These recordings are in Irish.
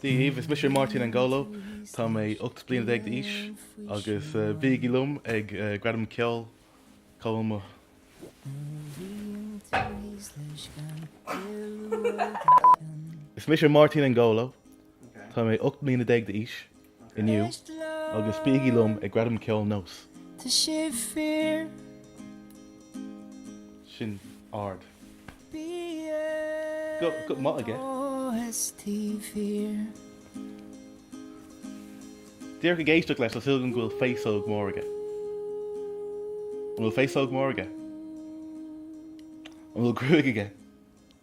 Daoibh is mise Máirtín Angolo. Tá mé 18 bliana d'aois agus bígí liom ag Gradam Ceoil NÓS. Is mise Máirtín Angolo. Tá mé 18 bliana d'aois inniu agus bígí liom ag Gradam Ceoil NÓS. Tá sé fíor. Sin ard. Go maith aige. BST fíor. Díreach ag éisteacht leis shílfeá go bhfuil féasóg mór aige. An bhfuil féasóg mór aige? An bhfuil gruaig aige?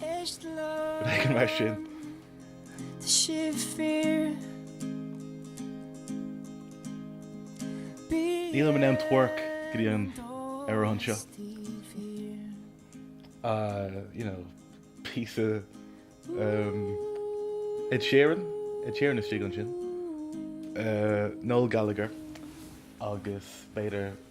Rud éigin mar sin. Tá sibh fíor. Nílim in ann twerk go dtí an amhrán seo. You know, píosa umm Ed Sheeran, Ed Sheeran istigh ansin, Noel Gallagher agus b'fhéidir